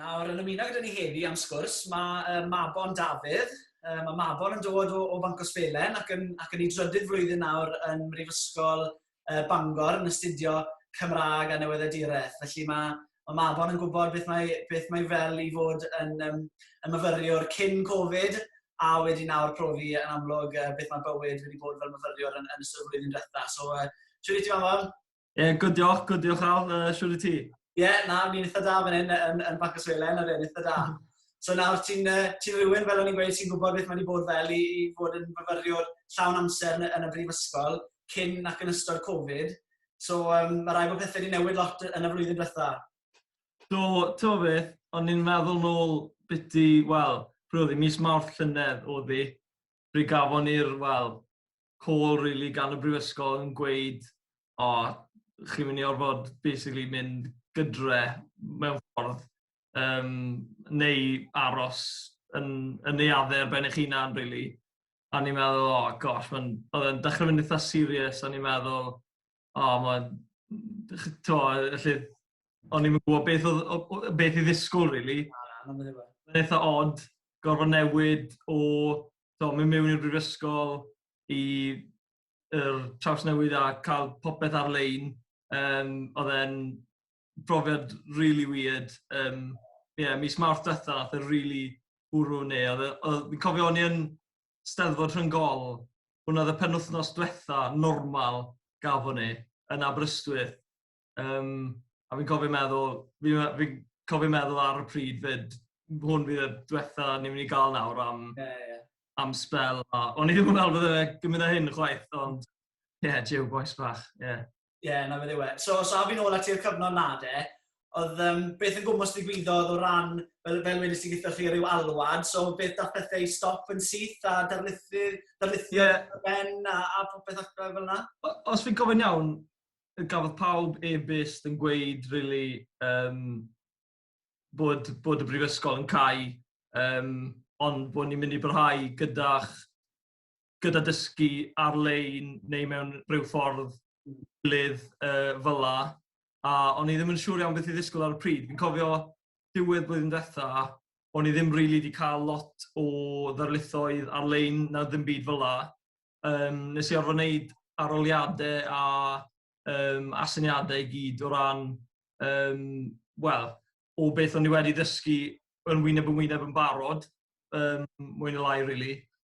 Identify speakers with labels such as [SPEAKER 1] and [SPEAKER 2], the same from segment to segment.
[SPEAKER 1] Nawr, yn ymuno gyda ni heddi am sgwrs, mae Mabon Dafydd. Mae Mabon yn dod o, o Banc Osbelen ac yn, ac yn ei drydydd flwyddyn nawr yn Mhrifysgol Bangor yn astudio Cymraeg a Newyddiaduraeth. Felly mae, mae Mabon yn gwybod beth mae, beth mae fel i fod yn, um, yn myfyriwr cyn Covid, a wedi nawr profi yn amlwg uh, beth mae bywyd wedi bod fel myfyriwr yn, yn ystod y flwyddyn diwetha. So, uh, siwr i ti Mabon? Ie, yeah, good diolch, good diolch Al, uh, siwr i ti? Ie, yeah, na, mi'n eitha da fan hyn yn, yn Banc y Swelen, yr un eitha da. Hmm. So nawr ti'n uh, ti rhywun, fel o'n i'n gweud, sy'n gwybod beth mae wedi bod fel i, i fod yn myfyriwr llawn amser yn, yn y brifysgol cyn ac yn ystod Covid. So, um, mae rhaid bod pethau wedi newid lot yn y flwyddyn diwetha. Do, to beth, ond ni'n meddwl nôl byty, wel, pryd oedd mis mawrth llynedd o ddi, pryd gafon ni'r, wel, call really gan y brifysgol yn gweud, o, oh, chi'n mynd i orfod basically mynd gydre mewn ffordd, um, neu aros yn, yn neuaddau ar ben eich hunan, really. o'n i'n meddwl, o, oh, gosh, mae'n, oedd yn dechrau mynd eitha serious, o'n i'n meddwl, o, oh, mae'n, to, felly, o'n i'n gwybod beth, oedd, beth i ddisgwyl, really. Mae'n eitha odd, gorfod newid o, to, mynd mewn i'r brifysgol i yr traws newid a cael popeth ar-lein. Um, oedd e'n, brofiad really weird. Um, yeah, mis Mawrth diwetha, oedd e'n really bwrw neu. E, oedd, fi'n cofio o'n i yn steddfod rhwng gol, hwnna oedd y penwthnos diwetha normal gafon ni yn Aberystwyth. Um, a fi'n cofio meddwl, fi'n fi cofio meddwl ar y pryd fyd, hwn fydd y diwetha ni'n mynd i gael nawr am, yeah, yeah. am spel. O'n i ddim yn meddwl bod e'n gymryd â hyn chwaith, ond ie, yeah, jiw, boes bach, ie. Yeah. Ie, yeah, na beth yw e. So, os so, fi'n ôl at i'r cyfnod na de, oedd um, beth yn gwmwys digwyddodd o ran, fel, fel wedys ti gyda chi, rhyw alwad, so beth da pethau i stop yn syth a darlithu, darlithio yeah. ben a, a popeth ac fel yna? Os fi'n gofyn iawn, gafodd pawb e-byst yn gweud, really, um, bod, bod y brifysgol yn cael, um, ond bod ni'n mynd i brhau gyda'ch gyda dysgu ar-lein neu mewn rhyw ffordd gilydd uh, fyla, a o'n i ddim yn siŵr iawn beth i ddisgwyl ar y pryd. Fi'n cofio diwedd blwyddyn diwetha, o'n i ddim rili really wedi cael lot o ddarlithoedd ar-lein na ddim byd fyla. Um, nes i orfod wneud aroliadau a um, asyniadau i gyd o ran, um, wel, o beth o'n i wedi ddysgu yn wyneb yn wyneb yn barod, um, mwyn y lai, really.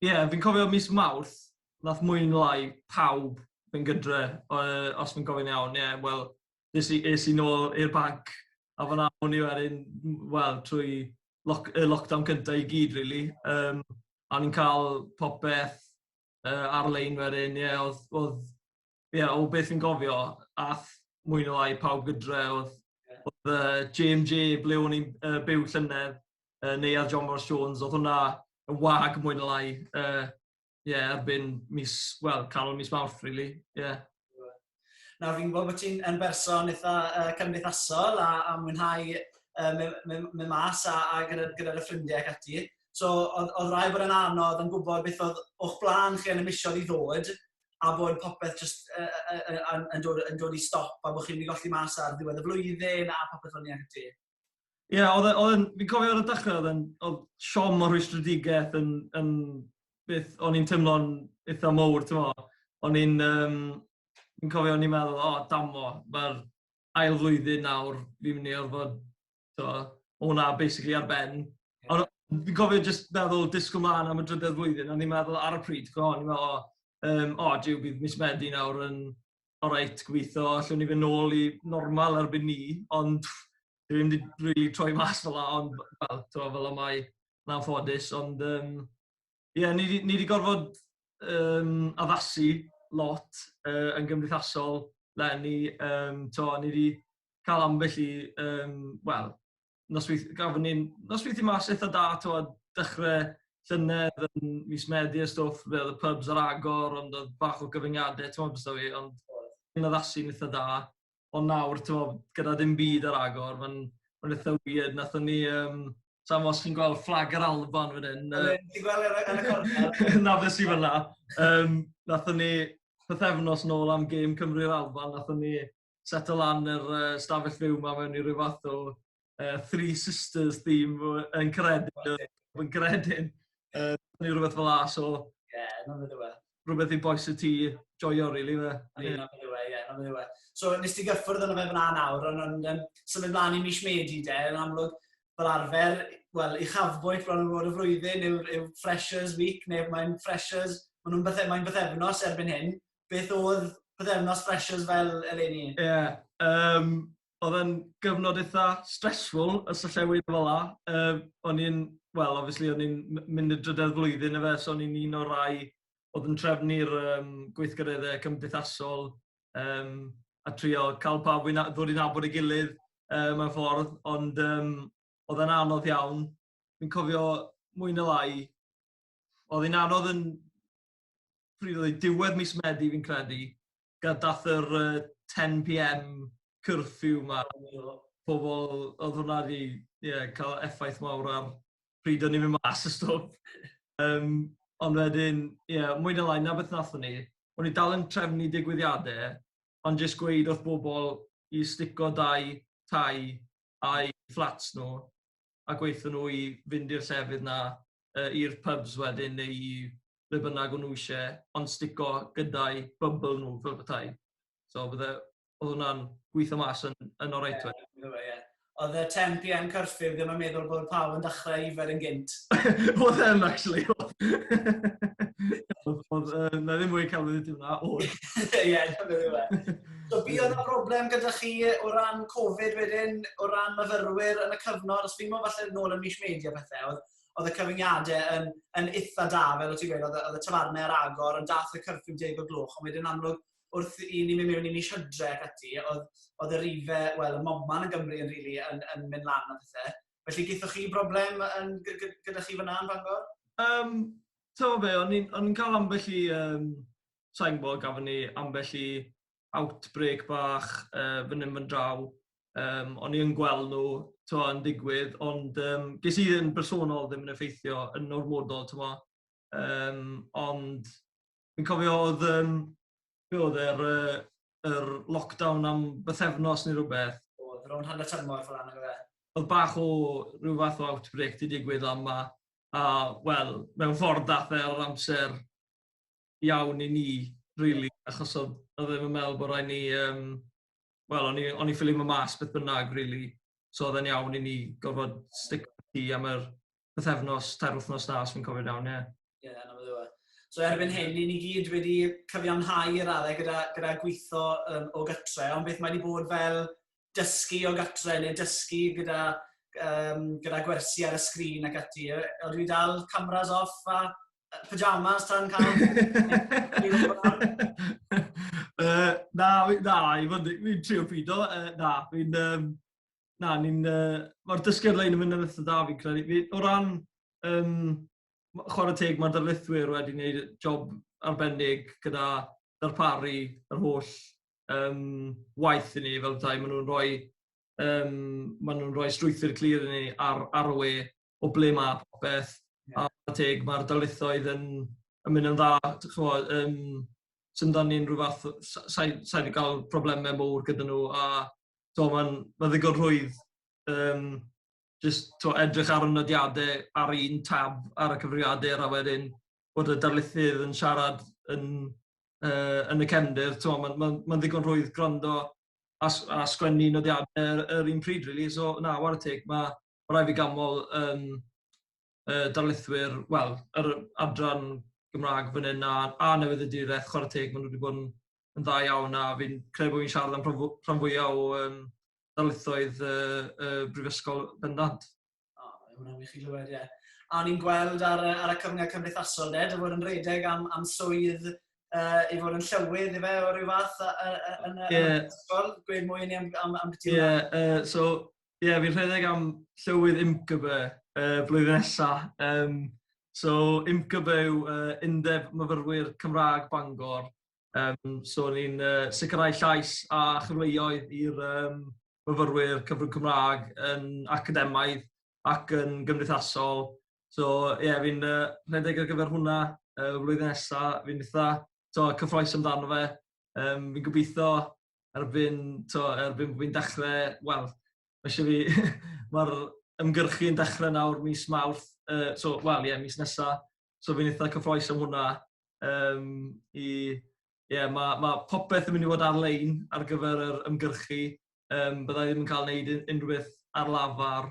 [SPEAKER 1] Ie, yeah, fi'n cofio mis Mawrth, nath mwy yn lai pawb yn gydre, uh, os fi'n gofio'n iawn, ie, yeah, wel, nes i, es i nôl i'r banc, a fan awn i wedyn, wel, trwy lock, y lockdown cyntaf i gyd, really. Um, a ni'n cael popeth uh, ar-lein wedyn, ie, yeah, oedd, oedd Ie, yeah, o beth fi'n gofio, ath mwy neu lai pawb gydre oedd, yeah. oedd uh, JMJ ble o'n i'n uh, byw llynedd, uh, neu ar John Morris Jones, oedd hwnna yn wag mwy neu lai. Uh, yeah, erbyn mis, wel, canol mis mawrth, really. Yeah. Na, fi'n gwybod bod ti'n yn berson eitha uh, cymdeithasol a, a mwynhau uh, me, me, me mas a, a gyda'r gyda, gyda ffrindiau ac ati. So, oedd, oedd rai bod yn anodd yn gwybod beth oedd o'ch blaen chi yn y misiodd i ddod, a bod popeth jyst yy yy yy yn yn dod yn dod i stop a bod chi'n mynd i golli mas ar ddiwedd y flwyddyn a popeth fel 'ny ac ati. Ie, yeah, oedd e, oedd e'n, fi'n cofio ar y dechrau, oedd e'n, oedd siom o'r rhwystredigaeth yn, yn beth o'n i'n teimlo'n eitha mowr, ti'n mo. O'n i'n, um, fi'n cofio o'n i'n meddwl, o, oh, damo, mae'r ail flwyddyn nawr, fi'n mynd i orfod So, o hwnna basically ar ben. Yeah. Ond fi'n cofio jyst meddwl disgwyl mlaen am y drydedd flwyddyn, a ni'n meddwl ar y pryd, go, ni'n meddwl, o, um, o, diw, bydd mis Medi nawr yn oreit gweithio, allwn ni fynd nôl i normal erbyn ni, ond dwi ddim wedi really troi mas fel la, ond fel, to, fel o mae na'n ffodus, ond um, Ie, yeah, ni wedi gorfod um, addasu lot uh, yn gymdeithasol lenni. Um, to, ni wedi cael ambell i, um, wel, nosweith, gafon ni'n nosweithi mas eitha da, to, dechrau llynedd yn mis Medi a stwff, fe oedd y pubs ar agor, ond oedd bach o gyfyngiadau, ti'n meddwl bys fi, ond yn addasu yn eitha da. ond nawr, tywod, gyda dim byd ar agor, mae'n ma eitha weird. Nathon ni, um, sa'n os chi'n gweld fflag yr Alban fan hyn. Ti'n gweld e yn y cornel? Na, fe sy'n fyna. Um, nathon ni, pythefnos nôl am gêm Cymru'r Alban, nathon ni settle lan yr uh, stafell fyw ma mewn i rhyw fath o uh, Three Sisters theme yn credyn, yn credyn. Uh, neu rhywbeth fel la, so... Ie, yeah, na fe ddewe. Rhywbeth i boes y ti joio, really, fe. Ie, na fe ddewe, ie, na fe ddewe. So, nes ti gyffwrdd yna fe fyna nawr, ond yn um, symud mlaen i mis Medi, de, yn amlwg, fel arfer, wel, i chafbwynt bron yn fod y flwyddyn yw, yw Freshers Week, neu mae'n Freshers, maen nhw'n bythefnos, mae'n bythefnos erbyn hyn. Beth oedd bythefnos Freshers fel eleni? Ie, yeah, um, oedd yn gyfnod eitha stressful, y syllewyd fel la. Uh, o'n i'n, wel, obviously, o'n i'n mynd y drydedd flwyddyn efe, so o'n i'n un o'r rai oedd yn trefnu'r um, gweithgareddau cymdeithasol um, a trio cael pawb i ddod i'n abod ei gilydd um, mewn ffordd, ond um, oedd yn anodd iawn. Fi'n cofio mwy na lai, oedd yn anodd yn pryd oedd diwedd mis Medi fi'n credu, Ga- Daeth yr yy 10pm curfew 'ma o pobl o'dd hwnna 'di ie ca'l effaith mawr ar pryd o'n ni'n myn' mas a stwff. Yym ond wedyn ie mwy ne' lai 'na beth nathon ni. O'n ni dal yn trefnu digwyddiade ond jyst gweud wrth bobol i stico dau tai a'u fflats nw a gweithio nhw i fynd i'r llefydd 'na yy i'r pubs wedyn neu i ble bynnag o'n nhw isie ond stico gyda'u bybl nhw fel petai. So bydde o'dd hwnna'n gwitho mas yn yn oreit wedyn. Ie bydde fe ie. O'dd y ten PM curfew ddim yn meddwl bod pawb yn dachre yfed yn gynt. O'dd e yn actually o'dd. O'dd o'dd yy 'na ddim mwy celfyddyd 'di wnna o'dd. Ie dyna fe. So fi oedd y broblem gyda chi o ran Covid wedyn, o ran myfyrwyr yn y cyfnod, os fi'n meddwl falle nôl yn mis Medi a pethau, oedd, oedd y cyfyngiadau yn, yn eitha da, fel o ti'n gweud, oedd, oedd y tafarnau ar agor, ond dath y cyrffyn deg o gloch, ond wedyn amlwg wrth i ni mynd mewn i mis hydre ac ati, oedd, oedd y rife, wel, y moman yn Gymru yn, really, yn, yn mynd lan a pethau. Felly, gyda chi broblem yn, gyda chi fyna yn Bangor? Um, Ti'n fe, o'n i'n cael ambell i um, sa'n gwybod, gafon ni ambell i outbreak bach uh, fan hyn fan draw. Um, o'n i'n gweld nhw twa, yn digwydd, ond um, ges i yn bersonol ddim yn effeithio yn normodol, twa. Um, ond fi'n cofio oedd, um, be oedd e'r uh, er lockdown am bythefnos neu rhywbeth. Oedd, ro'n hanner tymor fel anna gyda. Oedd bach o rhyw fath o outbreak di digwydd am ma. A, wel, mewn ffordd dath e ar amser iawn i ni rili achos odd odd e ddim yn meddwl bo' raid ni yym wel o'n i o'n i ffili myn' mas beth bynnag rili so odd e'n iawn i ni gorfod stico i tŷ am yr pythefnos tair wthnos 'na os fi'n cofio'n iawn ie. Ie 'na fe yw e. So erbyn hyn 'yn ni gyd wedi cyfiawnhau i radde gyda gyda gwitho yym o gytre ond beth mae 'di bod fel dysgu o gatre ne' dysgu gyda yym gyda gwersi ar y sgrin ac ati yy odyw 'i dal cameras off a pyjamas tan cael... uh, na, na, i fod yn trio pido. Uh, na, fi'n... Um, na, ni'n... Uh, Mae'r dysgedd lein yn mynd yn eitha da fi'n credu. Fi, o ran um, chwarae teg, mae'r darlithwyr wedi gwneud job arbennig gyda darparu yr holl um, waith i ni fel tai. Maen nhw'n rhoi, um, maen nhw'n rhoi strwythyr clir i ni ar, ar y we o ble mae popeth. A teg, mae'r darlithoedd yn, yn mynd yn dda. Chymod, um, sy'n dan ni'n rhyw fath, sa'i sa wedi cael problemau mowr gyda nhw. A to, mae'n ma ddigon rhwydd um, just, to, edrych ar y nodiadau ar un tab ar y cyfrifiadur a wedyn bod y darlithydd yn siarad yn, uh, yn y cefndir. Mae'n ma, ma ddigon rhwydd gwrando a, a sgwennu nodiadau yr, yr un pryd, really. So, na, war y teg, mae mae rhaid fi ganmol um, uh, darlithwyr, wel, yr adran Gymraeg fan hyn a, a newydd y direth, chwarae teg, maen nhw wedi bod yn, yn dda iawn a fi'n credu bod fi'n siarad am rhan fwyaf o um, darlithoedd uh, uh, brifysgol bendant. O, oh, hwnna'n wych i glywed, ie. A ni'n gweld ar, ar y cyfnod cymdeithasol, de, dy fod yn redeg am, am swydd uh, i fod yn llywydd i fe o ryw fath yn y ysgol? Gweud mwy i ni am, am, am beth Yeah, uh, so, Ie, yeah, fi'n rhedeg am llywydd IMCB y uh, flwyddyn nesaf. Um, so, IMCB yw uh, Undeb Myfyrwyr Cymraeg Bangor. Um, so, ni'n uh, sicrhau llais a chyfleoedd i'r um, myfyrwyr cyfrwng Cymraeg yn academaidd ac yn gymdeithasol. So, ie, yeah, fi'n uh, rhedeg ar gyfer hwnna uh, flwyddyn nesaf. Fi'n eitha so, cyffroes amdano fe. Um, fi'n gobeithio erbyn, to, erbyn fi'n dechrau, wel, mae eisiau fi, mae'r ymgyrchu yn dechrau nawr mis mawrth, uh, so, wel, ie, yeah, mis nesa, so fi'n eitha cyffroes am hwnna. Um, i, ie, yeah, mae ma popeth yn mynd i fod ar-lein ar gyfer yr ymgyrchu, um, byddai ddim yn cael gwneud unrhyw beth ar lafar,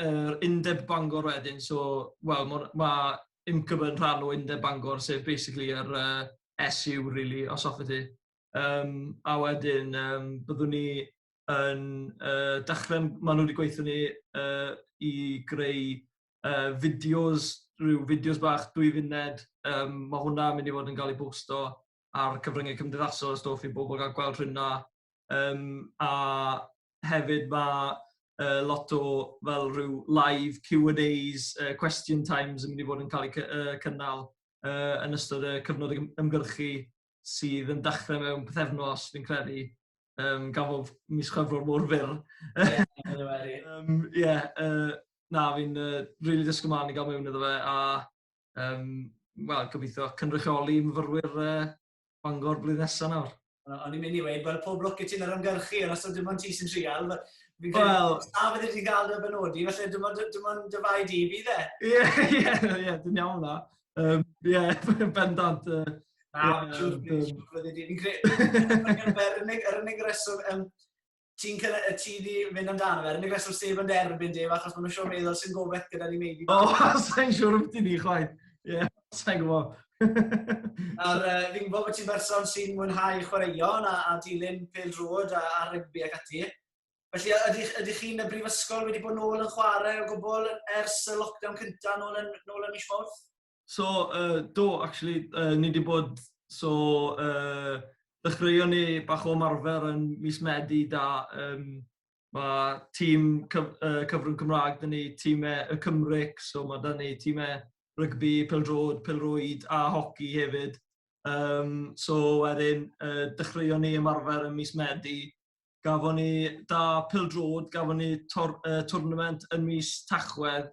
[SPEAKER 1] yr undeb Bangor wedyn, so wel ma' ma' UMCYB yn rhan o undeb Bangor sef basically yr uh, SU really os hoffet ti. Um, a wedyn um, byddwn ni yn uh, dechrau, maen nhw wedi gweithio ni uh, i greu uh, fideos, rhyw fideos bach dwy funed, um, mae hwnna mynd i fod yn cael ei bosto ar cyfryngau cymdeithasol y stof i bobl gael gweld rhywna. Yym a hefyd ma' yy lot o fel rhyw live Q and A's yy question times yn mynd i fod yn cael eu cy- yy cynnal yy yn ystod y cyfnod ym- ymgyrchu sydd yn dechre mewn pythefnos fi'n credu yym gan fo' mis Chwefror mor fyr. Yym ie yy na fi'n yy rili disgwl mlan i ga'l mewn iddo fe a yym wel gobeithio cynrychioli myfyrwyr yy Bangor blwyddyn nesaf nawr. O'n i'n mynd i weud, wel, pob lwc i ti yn yr ymgyrchu, ond os oedd dim ond ti sy'n trial, fi'n credu, os na fydde ti'n cael dy benodi, felly dim ond, dim ond dy fai di bydd e. Ie, ie, ie, dwi'n iawn na. Um, ie, bendant. Uh, na, dwi'n credu, fi'n credu, yr unig reswm, um, ti'n cael y ti di mynd amdano fe. Yr unig reswm sef yn derbyn def, achos maen nhw'n siŵr meddwl sy'n gofeth gyda ni meidi. O, sa'n siŵr ydy ni, chwaith. Ie, sa'n gwybod. A'r, uh, fi'n gwybod bod ti'n berson sy'n mwynhau chwaraeon a, a dilyn pel drod a, a rygbi ac ati. Felly, ydych, ydych chi'n y brifysgol wedi bod nôl yn chwarae o gwbl ers y lockdown cyntaf nôl yn, nôl yn mis Mawrth? So, uh, do, actually, uh, ni wedi bod, so, uh, dechreuon ni bach o marfer yn mis Medi da, um, mae tîm cyf, uh, cyfrwng Cymraeg, dyn ni tîmau y Cymric, so mae dyn ni tîmau rygbi, peldrod, pelrwyd a hoci hefyd. Um, so wedyn, uh, dechreuon ni ymarfer yn mis Medi, gafon ni da peldrod, gafon ni tor, uh, tournament yn mis Tachwedd,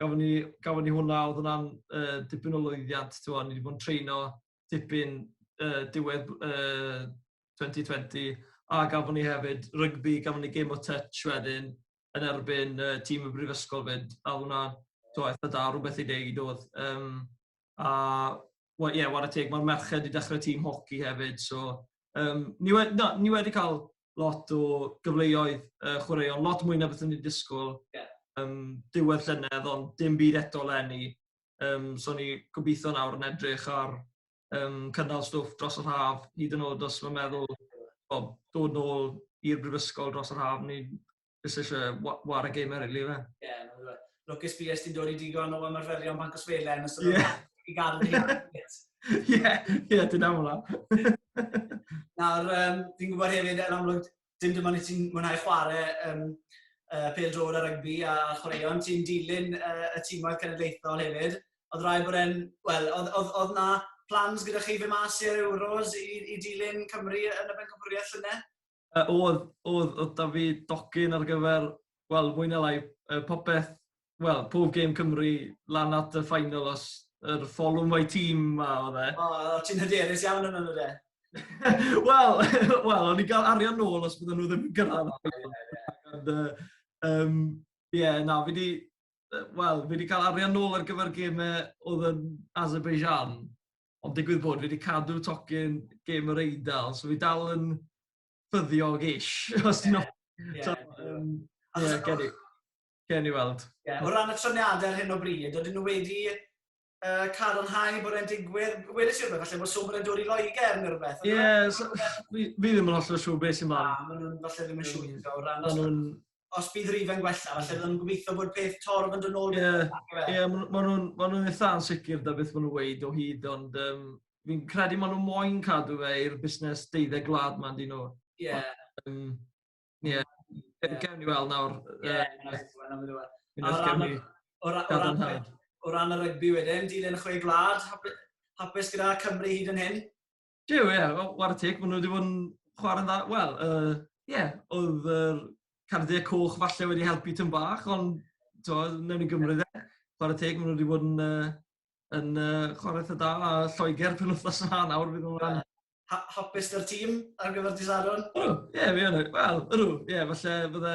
[SPEAKER 1] gafon ni, gafon ni hwnna, oedd hwnna'n uh, dipyn o lwyddiant, ti'n ni wedi bod yn treino dipyn uh, diwedd uh, 2020, a gafon ni hefyd rygbi, gafon ni game o touch wedyn yn erbyn uh, tîm y brifysgol fyd, a hwnna, ti'n eitha da, rhywbeth i deud oedd. Um, a wel, ie, yeah, war y teg, mae'r merched wedi dechrau tîm hoci hefyd, so um, ni, wedi, no, ni wedi cael lot o gyfleoedd uh, chwaraeon, lot mwy na beth o'n i'n disgwyl yeah. um, diwedd llynedd, ond dim byd eto lenni. Um, so ni gobeithio nawr yn edrych ar um, cynnal stwff dros yr haf, hyd yn oed os mae'n meddwl o, dod nôl i'r brifysgol dros yr haf, ni'n Jyst eisiau war y gamer rili fe. Ie, yeah, lwcus fi ys ti'n dod i digon o ymarferion pan cwsfele yn ystod yeah. i gael yn ei Ie, ie, ti'n aml am. Nawr, um, fi'n gwybod hefyd, yn amlwg, dim dyma ni ti'n mwynhau chwarae um, uh, pel drod a rygbi a chwaraeon, ti'n dilyn uh, y tîmau cenedlaethol hefyd. Oedd rai bod e'n, wel, oedd na plans gyda chi fe mas i'r Euros i, i dilyn Cymru yn y Bencampwriaeth llynedd? Yy oedd oedd oedd 'da fi docyn ar gyfer wel mwy na lai yy popeth wel pob gêm Cymru lan at y final os yr folwm my team 'ma odd e. O o ti'n hyderus iawn yno on'd yw e? Wel wel o'n i'n ga'l arian nôl os bydden nhw ddim yn gyrradd ond yy yym ie na fi 'di yy wel fi 'di ca'l arian nôl ar gyfer geme odd yn Azerbaijan. Ond digwydd bod fi wedi cadw tocyn gêm yr Eidal, so fi dal yn ffyddiog-ish, os ti'n yeah, yeah, so, um, yeah, gen, i, gen i weld. Yeah, o ran y troniadau ar hyn o bryd, oedden nhw wedi uh, cadarnhau bod e'n digwydd, wedys i rhywbeth, falle bod swm yn dod i Loegr neu rhywbeth. Ie, yeah, so, fi, fi ddim yn holl o siw beth sy'n man. Na, maen nhw'n falle ddim yn siw o ran... Maen nhw'n os bydd rif yn gwella, falle byddwn yn gobeithio bod peth torf yn dod nôl. Ie, yeah, yeah, maen nhw'n ma nhw eitha ansicr da beth maen nhw'n weid o hyd, ond um, fi'n credu maen nhw'n moyn cadw fe i'r busnes deuddeg gwlad ma'n dyn nhw. Ie. Yeah. Um, yeah. yeah. Gawn ni weld nawr. Ie, O ran y rygbi wedyn, dilyn chwe gwlad, hapus gyda Cymru hyd yn hyn? Jiw, ie, wel, war y teg, maen nhw wedi bod yn chwarae'n dda. Wel, ie, uh, yeah, oedd yr uh, cardiau coch falle wedi helpu tyn bach, ond to, newn ni gymryd e. Chwarae teg, maen nhw wedi bod yn, uh, yn uh, chwarae eitha da a Lloegr pen wythnos yna nawr fydd nhw'n ha hapus dy'r tîm ar gyfer dydd Sadwrn? Ydw, ie, fi yn. Wel, ydw, ie, falle bydde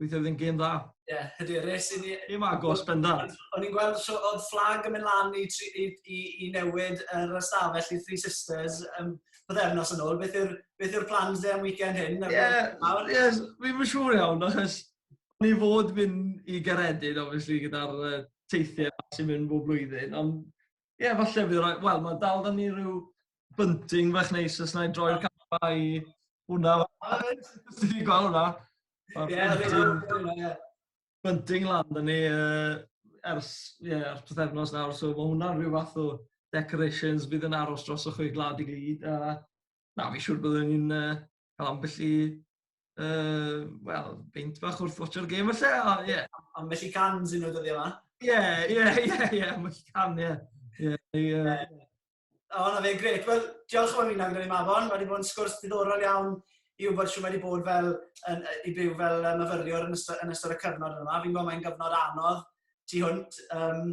[SPEAKER 1] Weithio fydd yn gêm dda. Ie, yeah, ydy, res i ni... Gêm agos, bendant. O'n i'n gweld so, oedd fflag yn mynd lan i, i, i, i newid yr ystafell i Three Sisters um, byddefnos yn ôl. Beth yw'r beth yw plans dde am weekend hyn? Ie, yeah, yes, fi'n mynd siŵr iawn, achos ni fod mynd i Geredin, obviously, gyda'r uh, teithiau sy'n mynd bob blwyddyn, ond Ie, yeah, falle fi roi... Wel, mae dal da ni rhyw bunting fach neis os na i droi'r camera i hwnna. Os ti'n gweld hwnna? Ie, bunting lan da ni ers, ie, yeah, ers pethefnos nawr, so mae hwnna'n rhyw fath o decorations bydd yn aros dros o'ch chi glad i gyd. A, na, fi siwr byddwn ni'n uh, cael ambell i, uh, wel, beint bach wrth watcho'r gêm felly, o, ie. Yeah. Ambell i can sy'n nhw dyddi yma. Ie, ie, ie, ie, ambell i can, ie. Ie, ie. O, na fe, gret. Wel, diolch am ymuno gyda ni, Mafon. Mae wedi bod yn sgwrs diddorol iawn i wybod sy'n wedi bod fel, yn, i byw fel myfyriwr yn ystod, yn ystod y cyfnod yma. Fi'n gwybod mae'n gyfnod anodd tu hwnt. Um,